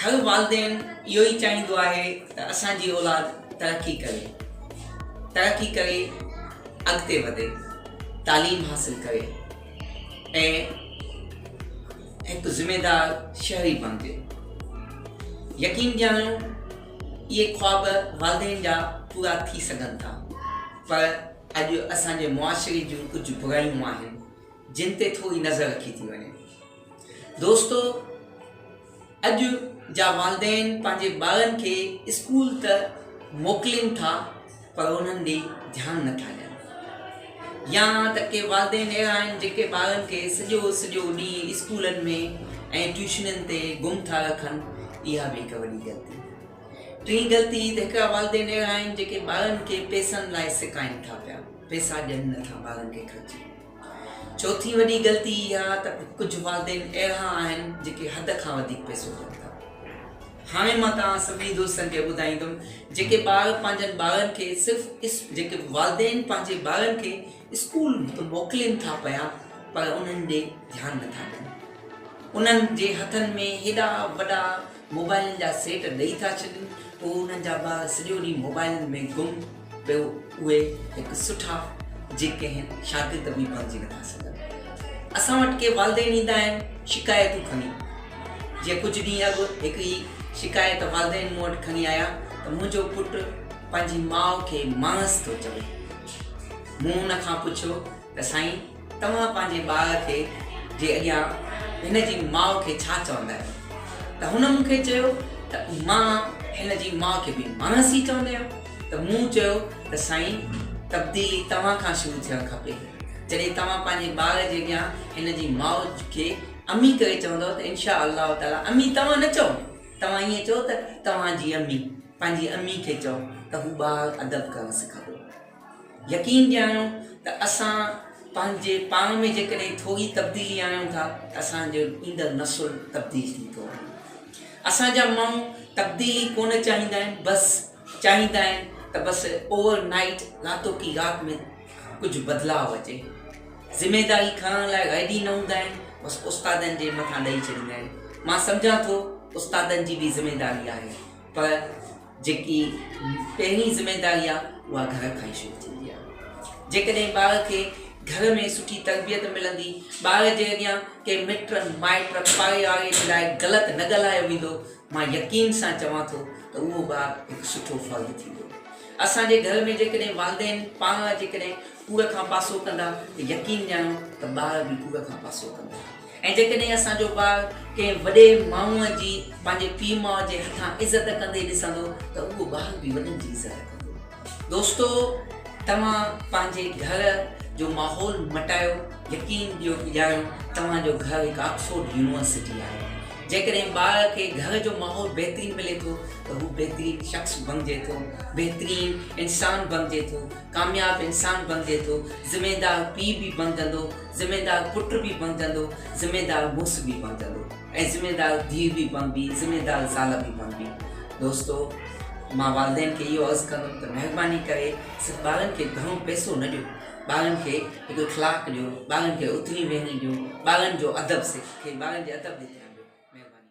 هر والدين اهو ئي چاهيندو آهي ته اسان جي اولاد ترقي ڪري ترقي ڪري اڳتي وڌي تعليم حاصل ڪري ۽ هڪ ذميدار شهري بڻجي يقين ڄاڻو اهي خواب والدين جا پورا ٿي سگهن ٿا پر اڄ اسان جي معاشري جون ڪجهه برايون آهن جن تي ٿوري نظر رکي ٿي وڃي دوستو اڄ جا والدين پنهنجي ٻارن کي اسڪول ته موڪلين ٿا پر انهن ڏي ڌيان نٿا ڏين يا ته ڪي والدين اهڙا آهن جيڪي ٻارن کي سڄو سڄو ڏينهن اسڪولن ۾ ۽ ٽيوشنن تي گم ٿا رکن اها به هڪ وڏي غلطي ٽين غلطي ته هڪڙا والدين اهڙا آهن جيڪي ٻارن کي پيسن لاء سڪائين ٿا پيا پيسا ڏين نٿا ٻارن کي خرچي چوٿين وڏي غلطي اها ته ڪجهه والدين اهڙا آهن جيڪي حد کان وڌيڪ پئسو ڏين ٿا. هاڻي مان توهان سڀني دوستن کي ٻڌائيندم جيڪي ٻار پنهنجن ٻارن کي صرف جيڪي والدين پنهنجي ٻارن کي اسڪول ته موڪلين ٿا پيا پر انهن ڏي ڌيان نٿا ڏين. انهن جي هٿن ۾ هيڏا وڏا موبائلن جا سيٽ ڏئي ٿا ڇڏين پوء انهن جا ٻار سڄو ڏينهن موبائلن ۾ گم ته اهي هڪ سٺا جيڪي هن شاگرد به بڻجي نٿا سگهن اسان وٽ ڪي والدين ايندا آهن شڪايتون کڻي جي ڪجهه ڏينهن اڳ هڪ ئي شڪايت والدين مون وٽ کڻي آيا ته منهنجو پٽ پنهنجي ماء کي ماڻس ٿو چوي مون ان کان پڇيو ته سائين توهان پنهنجي ٻار کي جي اڳيان هن جي ماء کي ڇا چوندا آهيو؟ ته هن مون کي چيو ته مان هن جي ماء کي به ماڻسي چوندي آهيان ته مون چيو ته سائين تبديلي توهان کان شروع ٿيڻ کپي جڏهن توهان پنهنجي ٻار جي اڳيان هن جي ماء کي امي ڪري چوندؤ ته انشاء الله تعالٰي امي توهان نه چئو توهان ائين چئو ته توهان جي امي پنهنجي امي کي چئو ته هو ٻار ادب ڪرڻ سکندو. يقين ڏياريو ته اسان پنهنجي پاڻ ۾ جيڪڏهن ٿوري تبديلي آڻيون ٿا ته اسان جو ايندڙ نسل تبديل ٿيندو آهي اسان جا ماڻهو تبديلي ڪونه چاهيندا آهن بس چاهيندا آهن ته بس اوور نائيٽ راتو ڪي رات ۾ ڪجهه بدلاء اچي ذميداري کڻڻ لاء ريڊي نه هوندا آهن بس استادن جي مٿان ڏئي ڇڏيندا آهن مان سمجهان ٿو استادن جي به ذميداري آهي پر جيڪي پهرين ذميواري آهي اها گهر کان ئي شروع ٿيندي آهي جيڪڏهن ٻار کي گهر ۾ سٺي تربيت ملندي ٻار جي اڳيان ڪنهن مٽ مائٽ پائي آڙي جي لاء غلط نه ڳالهايو ويندو مان يقين سان چوان ٿو ته اهو ٻار هڪ سٺو فرد ٿيندو اسان جي گهر ۾ جيڪڏهن والدين پاڻ جيڪڏهن ڪوڙ کان پاسو ڪندا ته يقين ڄاڻو ته ٻار به ڪوڙ کان پاسو ڪندا. ۽ جيڪڏهن اسان جو ٻار ڪنهن وڏي ماڻهوء جي پنهنجي پيء ماء جي هٿان عزت ڪندي ڏسندو ته اهو ٻار به وڏن جي عزت ڪندو. دوستو توهان پنهنجي گهر جو ماحول مٽايو يقين ڏيو ڄاڻو توهان جو گهر هڪ آڪسفورڊ يونيورسٽي آهي. جيڪڏهن ٻار کي گهر جو ماحول بهترين ملي ٿو ته هو بهترين شخص بڻجي ٿو، بهترين انسان بڻجي ٿو، ڪامياب انسان بڻجي ٿو، ذميدار پيء به بڻجندو، ذميدار پٽ به بڻجندو، ذميدار مڙس به بڻجندو ۽ ذميدار ڌيء به بڻبي، ذميدار زال به بڻبي. دوستو! مان والدين کي اهو عرض ڪندم ته مهرباني ڪري صرف ٻارن کي گهڻو پئسو نه ڏيو، ٻارن کي هڪ اخلاق ڏيو، ٻارن کي اٿڻي ويهڻي ڏيو، ٻارن جو ادب سکي، ٻارن جي ادب تي ڌيان ڏيو. مهرباني.